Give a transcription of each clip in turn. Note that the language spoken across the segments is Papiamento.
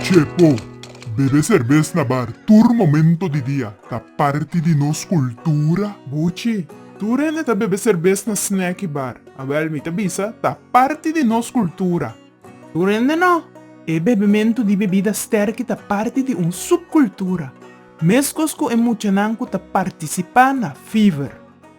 Chepo, Bebe serbes na bar tur momento di dia ta parti di nos cultura. Buchi, Tur hende ta bebe serbes na snack y bar. Awel, mi ta bisa, ta parti di nos cultura. Tur hende no. E bebemento di bebida sterki ta parti di un subcultura, mescos cu e muchanan cu ta participa na Fever.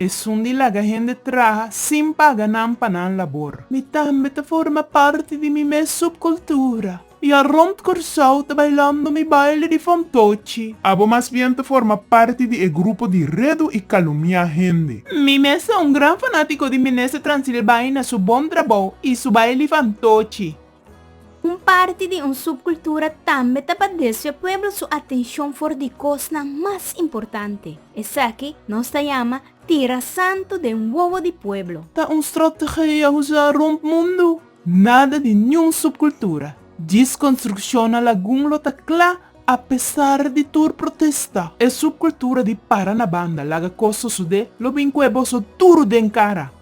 Esun di laga hende traha sin paga nan pa nan labor. Mi tambe ta forma parti di mi mes subkultura. Ya rond Kòrsou ta bailando mi baile di fontochi. Abo mas bien ta forma parti di e grupo di redu i kalumiá hende. Mi mes ta un gran fanátiko di Minister Transilbaina su bon trabou i su baile di fantochi. Un parti di un subkultura tambe ta pa desvia pueblo su atenshon for di kosnan mas importante. Esaki nos ta yama Tira Santu den wowo di pueblo. Ta un strategia usa rump mundu. Nada di niun subkultura. Djis konstrukshon na lagun lo ta kla apesar di tur protesta. E subkultura di para na banda, laga kos sosodé, lo bin kue boso duru den kara.